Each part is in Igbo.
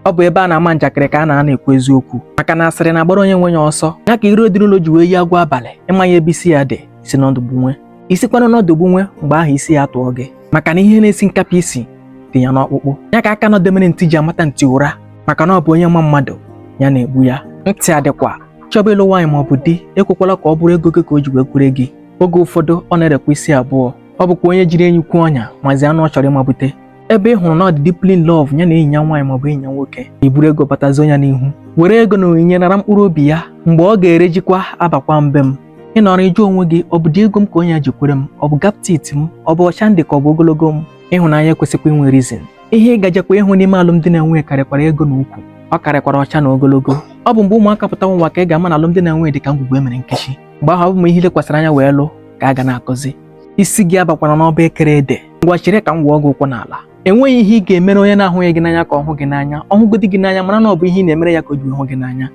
ọ bụ ebe a na-ama njakịrị ka a na-anọ ekwu eziokwu maka na asịrị na-agbara onye nwe ya ọsọ ya ka iro dị n'ụlọ ji wee yi agwọ abalị ị maghị ebe isi ya dị i si n'ọdụ gbunwe i sikwanụ n'ọdụ gbunwe mgbe ahụ isi ya atụọ gị maka na ihe na-esi nkapị isi dị ya n'ọkpụkpụ ya ka aka nọdemere ntị ji amata ntị ụra maka na ọ bụ onye ma mmadụ ya na-egbu ya ntị adịkwa chọba ịlụ nwaanyị ma ọ bụ di ekwekwala ka ọ bụrụ ego gị ka o ji wee kwere gị oge ụfọdụ ọ na-erekwa isi abụọ ọ bụkwa onye jiri enyi kwee ọnya mazi anụ ọ chọrọ ịmabute ebe ị hụrụ na ọ dị deeply in love ya na enyi ya nwaanyị maọbụ enyi ya nwoke i buru ego batazo ya n'ihu were ego na onyinye nara mkpụrụ obi ya mgbe ọ ga-erejikwa abakwa mbe m ị nọrọ ịjụ onwe gị ọ bụdị ego m ka onye a ji kwere m ọ bụ gap teeth m ọ bụ ọcha m dị ka ọ bụ ogologo m ịhụnanya ekwesịkwa inwe reason ihe ị ga-ejekwa ịhụ n'ime alụmdi na nwunye karịkwara ego na ukwu ọ karịkwara ọcha na ogologo ọ bụ mgbe ụmụaka pụta n'ụwa ka ị ga-ama na alụmdi na nwunye dị ka ngwugwu e mere nkechi mgbe ahụ ọ bụ mma i lekwasịrị anya wee lụ ka a ga na-akụzi isi gị abakwara n'ọba e kere ede ngwa chere ka m wụọ gị ụkwụ n'ala enweghị ihe ị ga-emere onye na-ahụghị gị n'anya ka ọ hụ gị n'anya ọ hụgodi gị n'anya mara na ọ bụ ihe ị na-emere ya ka o ji hụ gị n'anya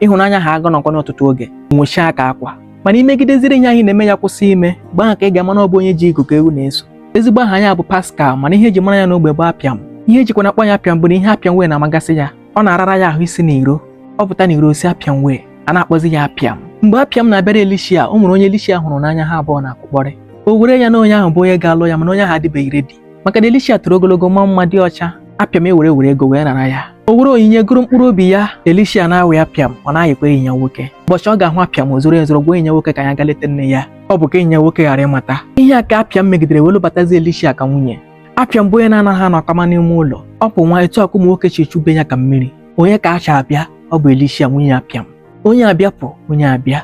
ịhụnanya ahụ aga nọkwa n'ọtụtụ oge nwụchaa ka akwa mana i megideziri ihe ahụ ị na-eme ya kwụsị ime mgbe ahụ ka ị ga-ama na ọ bụ onye ji igu ka ewu na-eso ezigbo aha ya bụ Pascal mana ihe e ji mara ya n'ogbe bụ apịam ihe e jikwa na-akpọ ya apịam bụ na ihe apịam way na-amagasị ya ọ na-arara ya ahụ isi n'iro ọ pụta n'iro o si apịam way a na-akpọzi ya apịam mgbe apịam na-abịara Elishia o nwere onye Elishia hụrụ n'anya ha abụọ na-akpakọrị o were ya na onye ahụ bụ onye ga-alụ ya mana onye ahụ adịbeghị ready maka na Elishia toro ogologo maa mma dị ọcha apịam ewere were ego wee nara ya o were onyinye goro mkpụrụ obi ya Elishia na-ayị apịam ọ na-ayịkwa enyi ya nwoke ụbọchị ọ ga-ahụ apịam o zoro ezoro gwa enyi ya nwoke ka ya ga leta nne ya ọ bụ ka enyi ya nwoke ghara ịmata ihe a ka apịam megidere wee lụbatazi Elishia ka nwunye apịam bụ onye na-anaghị anọ akama n'ime ụlọ ọ pụnwa etu ahụ ụmụ nwoke chi chube ya ka mmiri onye ka a chọ abịa ọ bụ Elishia nwunye apịam onye abịa pụ onye abịa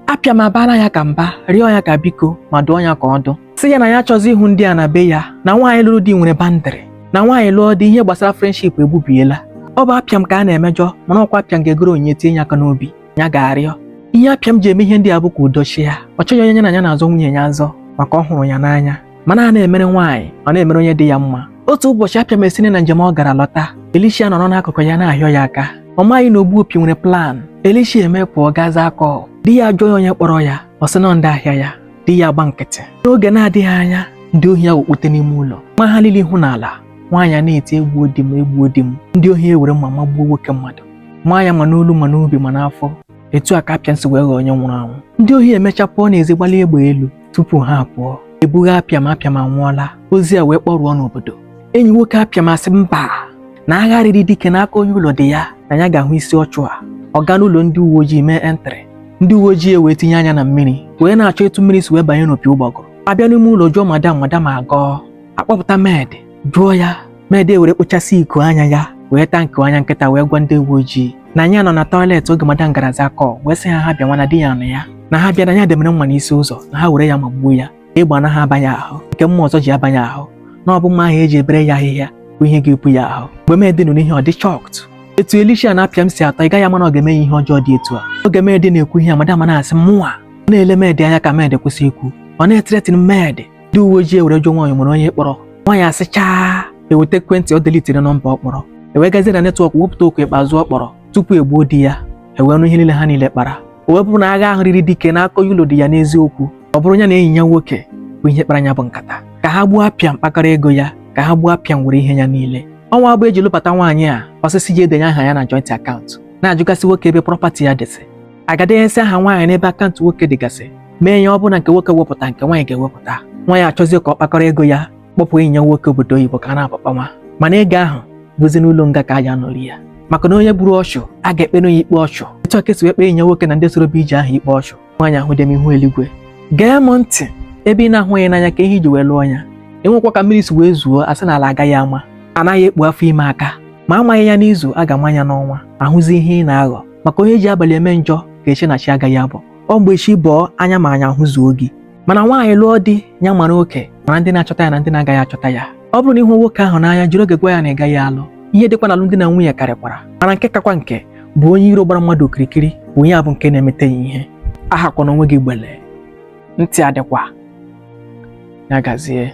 apịam abaala ya ka mba rịọ ya ka biko ma dụọ ya ka ọdụ sị ya na ya achọzi ịhụ ndị a na be ya na nwaanyị lụrụ di nwere boundary na nwaanyị lụọ di ihe gbasara friendship egbubiela ọ bụ apịam ka a na-emejọ mana ọ kwa apịam ga-egoro onyinye tinye ya aka n'obi ya ga-arịọ ihe apịam ji eme ihe ndị a bụ ka udo chịa ọ chọghị onye ya na ya na-azọ nwunye ya azọ maka ọ hụrụ ya n'anya mana a na-emere nwaanyị ọ na-emere onye dị ya mma otu ụbọchị apịam esiri na njem ọ gara lọta Elishia anọrọ n'akụkụ ya na-ahịọ ya aka ọ maghị na ogbu opi nwere plan Elishia eme pụọ gaa zaa call di ya jụọ ya onye kpọrọ ya ọ sị na ndị ahịa ya di ya agba nkịtị n'oge na-adịghị anya ndị ohi awakpute n'ime ụlọ maa ha niile ihu n'ala nwaanyị a na-eti egbuo di m egbuo di m ndị ohi ewere mma magbuo nwoke mmadụ nwaanyị ma n'olu ma n'obi ma n'afọ etu a ka apịam si wee ghọọ onye nwụrụ anwụ ndị ohi emecha pụọ n'ezi gbalie egbe elu tupu ha apụọ e buga apịam apịam anwụọla ozi a wee kpọrụọ n'obodo enyi nwoke apịam asị mba na agha riri dike n'aka onye ụlọ dị ya na ya ga-ahụ isi ọchụ a ọ gaa n'ụlọ ndị uwe ojii mee entry ndị uwe ojii ewee tinye anya na mmiri wee na-achọ etu mmiri si wee banye n'opi ụgbọgụrụ a bịa n'ime ụlọ jụọ madam madam agọọ akpọpụta med jụọ ya med ewere kpochasị iko anya ya wee taa nke anya nkịta wee gwa ndị uwe ojii na ya nọ na tọiletị oge madam gara zaa kọl wee sị ha ha bịa nwa na di ya nọ ya na ha bịa na ya demere mma n'isi ụzọ na ha were ya magbuo ya egbe anaghị abanye ahụ nke mma ọzọ ji abanye ahụ na ọ bụ mma ahụ eji ebere ya ahịhịa bụ ihe ga-epu ya ahụ mgbe medi nụrụ ihe ọ dị shọkt etu Elisha na Apịam si atọ ị gaghị ama na ọ ga-eme ihe ọjọọ dị etu a oge medi na-ekwu ihe a madam na-asị mụnwa na-ele medi anya ka medi kwụsị ikwu ọ na-etretịn medi ndị uwe ojii ewere jụọ nwaanyị nwere onye kpọrọ nwaanyị asị chaa eweta ekwentị ọ delitere nọmba ọ kpọrọ ewee gazie na netwọk wepụta oku ikpeazụ ọ kpọrọ tupu egbuo di ya ewee nụ ihe niile ha niile kpara o wee bụrụ na agha ahụ riri dike n'aka onye ụlọ dị ya n'eziokwu ọ bụrụ ya na enyi ya nwoke bụ ihe kpara ya bụ nkata ka ha gbuo Apịam kpakọrọ ego ya ka ha gbuo Apịam were ihe ya niile ọnwa abụọ eji lụbata nwaanyị a ọ sị sị jee denye aha ya na joint akaụntụ na-ajụgasị nwoke ebe prọpati ya dịsị agadenyesi aha nwaanyị n'ebe akaụntụ nwoke dịgasị mee ya ọ bụ na nke nwoke wepụta nke nwaanyị ga-ewepụta nwaanyị achọzie ka ọ kpakọrọ ego ya kpọpụ enyi ya nwoke obodo oyibo ka a na-akpakpa nwa mana ego ahụ bụzi n'ụlọ nga ka a ya-anọ rie ya maka na onye gburu ọchụ a ga-ekpenụ ya ikpe ọchụ etu a ka e si wee kpee enyi ya nwoke na ndị soro bụ ije ahụ ikpe ọchụ nwaanyị ahụ dị m ihu eluigwe gee m ntị ebe ị na-ahụghị n'anya ka ihe i ji wee lụọ ya enwekwa ka mmiri si wee zoo a sị na ala agaghị ama anaghị ekpu afọ ime aka ma amaghị ya n'izu a ga-ama ya n'ọnwa ahụzi ihe ị na-aghọ maka onye ji abalị eme njọ ga-eche na chi agaghị abọ ọ mgbe chi bọọ anya ma anya ahụzuo gị mana nwaanyị lụọ di ya mara oke mara ndị na-achọta ya na ndị na-agaghị achọta ya ọ bụrụ na ị hụ nwoke ahụ n'anya jiri oge gwa ya na ị gaghị alụ ihe dịkwa n'alụmdi na nwunye karịkwara mana nke kakwa nke bụ onye iro gbara mmadụ okirikiri bụ onye abụ nke na-emeta ya ihe ahakwana onwe gị gbele ntị adịkwa ya gazie